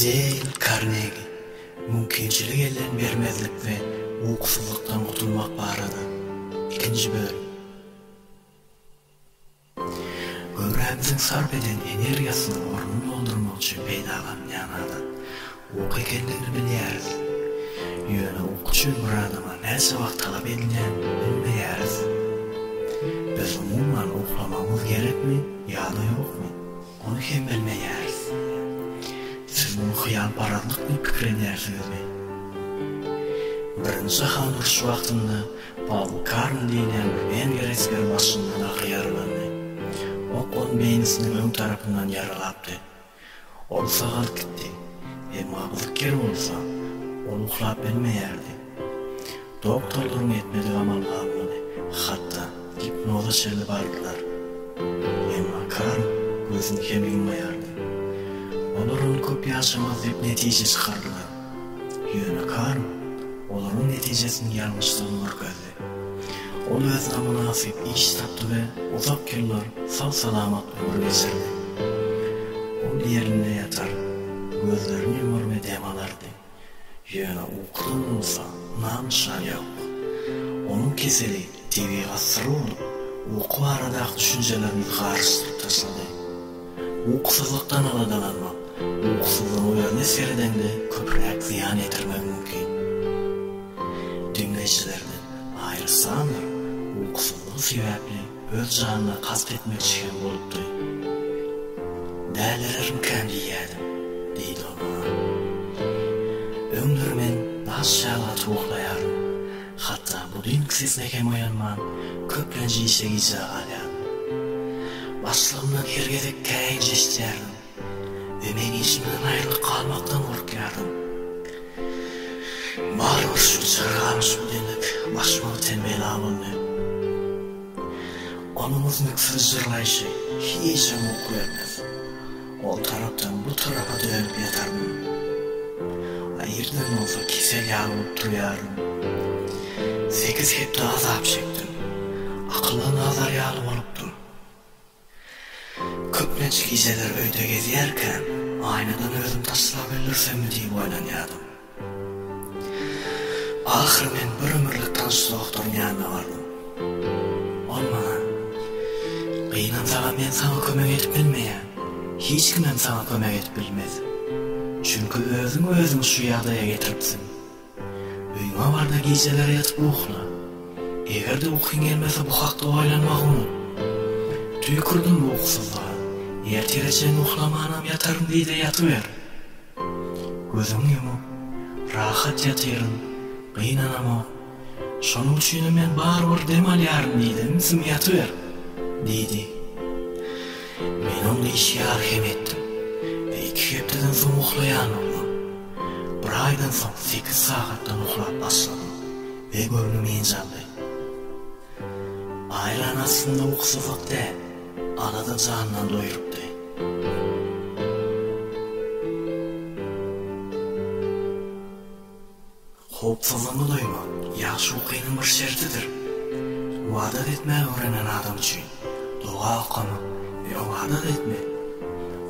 Deýl Karnegi, Mümkinçilik elden bermezlik we ukusyzlykdan gutulmak barada, ikinji bölüm. Göwrämiziň sarp eden energiýasynyň ornuny doldurmak üçin peýdalanylýan adat. Uky ekendigini bilýäris. Ýöne uky üçin myradama näçe wagt talap edilýändigini bilmeýäris. Biz umuman uklamagymyz gerekmi ýa-da ýokmy, ony hem bilmeýäris. Siz muny hyýalparazlyk diýip pikirlenýärsiňizmi? Birinji jahan urşy wagtynda Paul Karn diýilýän bir wengriýa esgeri başyndan ak ýaralandy. Ok ony beýnisiniň öň tarapyndan ýaralapdy. Ol sagalyp gitdi. Emma gyzyk ýeri bolsa, ol uklap bilmeýärdi. Doktorlaryň etmedik amaly galmady, hatda gipnoza çenli bardylar. Emma Karl gözüni hem ýummaýardy. Olar ony köp ýaşamaz diýip netije çykardylar. Ýöne Karl olaryň netijesiniň ýalňyşdygyny görkezdi. Ol özüne mynasyp iş tapdy we uzak ýyllar sag-salamat ömrüne sürdi. Ol ýerinde ýatar, gözlerini ýumar we dem alardy. Ýöne ukudan bolsa nam-nyşan ýok. Onuň keseli tebigat syry bolup, uky baradaky düşünjelerimizi garyşdyryp taşlady. Ukusyzlykdan aladalanmak, ukusyzlygyň özüne seredende köpräk zyýan ýetirmegi mümkin. Diňleýjilerden Aýryssandr ukusyzlygy sebäpli öz janyna kast etmekçi hem bolupdy. Dälirermikäm diýýädim, diýdi ol maňa. Öňler men daş ýaly atyp oklaýardym. Hatda bu düýnki sesine hem oýanman, köplenç işe gijä galýardym. Başlygymdan her gezek käýinç eşidýärdim we men işimden aýrylyk galmakdan gorkýardym. Barybir şu çyrgalyş bu deňlik başyma öten bela boldy. Onuň üznüksiz jyrlaýşy hiçem gowy görmez. Ol tarapdan bu tarapa dönüp ýataryn. A irden bolsa kesel ýaly bolup turýaryn. Sekiz hepde azap çekdim. Akylla nazar ýaly bolupdym. Köplenç gijeler öýde gezýärkäm, aýnadan özüm taslap öldürsem diýip oýlanýardym. Ahyry men bir ömürlik tanyş doktoryň ýanyna bardym. Ol maňa, Gynansagam men saňa kömek edip bilmeýän. Hiç kimem saňa kömek edip bilmez. Çünki özüň özüňi şu ýagdaýa getiripsiň. Öýüňe bar-da gijeler ýatyp ukla. Eger-de ukyň gelmese bu hakda oýlanmagy unut. Tüýkürdim bu ukusyzlyga. Ertire çenli uklamanam ýataryn diý-de ýatyber. Gözüňi ýumup, rahat ýatyryn, gynanamok. Şonuň üçinem men barybir dem alýaryn diýdim, Sim ýatyber! diýdi. Men oňa işgär hem etdim we iki hepdeden soň uhlaýan boldum. Bir aýdan soň sekiz sagatdan uhlap başladym we göwnüm enjaldy. Aýlan aslynda ukysyzlyk däl. Arada jandan doýrupdy. Howpsuzlygyňy duýmak ýagşy ukynyň bir şertidir. Ybadat etmäge öwrenen adam üçin doga okamak we ybadat etmek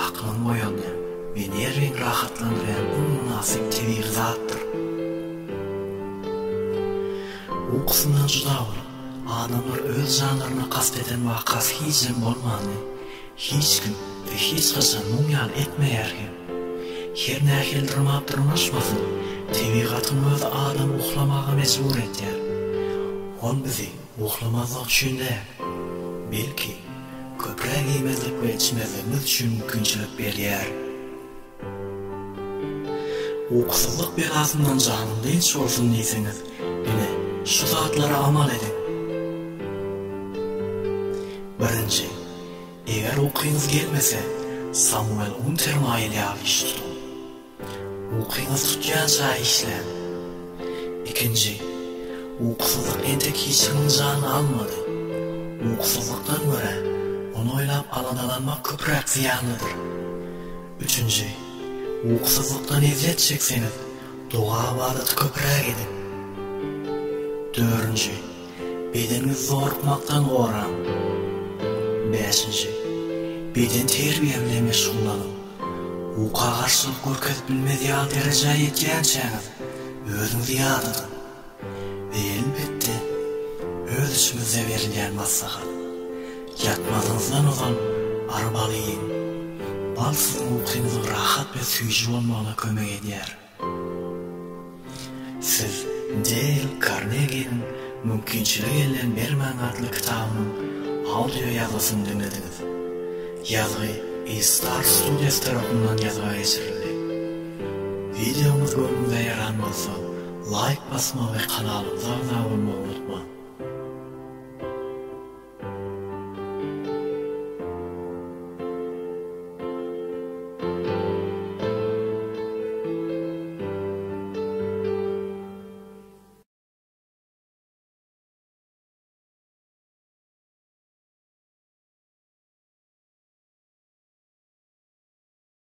aklyňy oýaldýan we nerwiňi rahatlandyrýan iň mynasyp tebigy zatdyr. Ukusyndan juda bolup, Adamlar öz janlaryna kast eden wakasy hijem bolmandy. Hiç kim we hiç haçan muň ýaly etmeýär hem. Her nähili dyrmap dyrmaşmasyn, tebigatyň özi adamy uhlamaga mejbur etýär. Ol bizi uhlamazlyk üçin däl, belki, köpräk iýmezlik we içmezligimiz üçin mümkinçilik berýär. Ukusyzlyk belasyndan janyň dynç bolsun diýseňiz, ine, şu zatlara amal ediň. Birinji, eger ukyňyz gelmese, Samuel Untermaýel ýaly iş tutuň. Ukyňyz tutýança işläň. Ikinji, ukusyzlyk entek hiç kimiň janyny almady. Ukusyzlykdan görä, ony oýlap aladalanmak köpräk zyýanlydyr. Üçünji, Ukusyzlykdan ezýet çekseňiz, doga-ybadaty köpräk ediň. Dördünji, Bedeniňizi zorukmakdan goraň. Bäşinji, Bedenterbiýe bilen meşgullanyň. Uka garşylyk görkezip bilmez ýaly derejä ýetýänçäňiz, özüňizi ýadadyň. Elbetde, öz içimizde berilýän maslahat. Ýatmazyňyzdan ozal arbaly iýiň. Bal siziň ukyňyzyň rahat we süýji bolmagyna kömek edýär. Siz Deýl Karneginiň Mümkinçilik elden bermäň atly kitabynyň audio ýazgysyny diňlediňiz. Ýazgy E-Star Studios tarapyndan ýazga geçirildi. Wideomyz göwnüňize ýaran bolsa, Laýk basmagy we kanalymyza agza bolmagy unutmaň.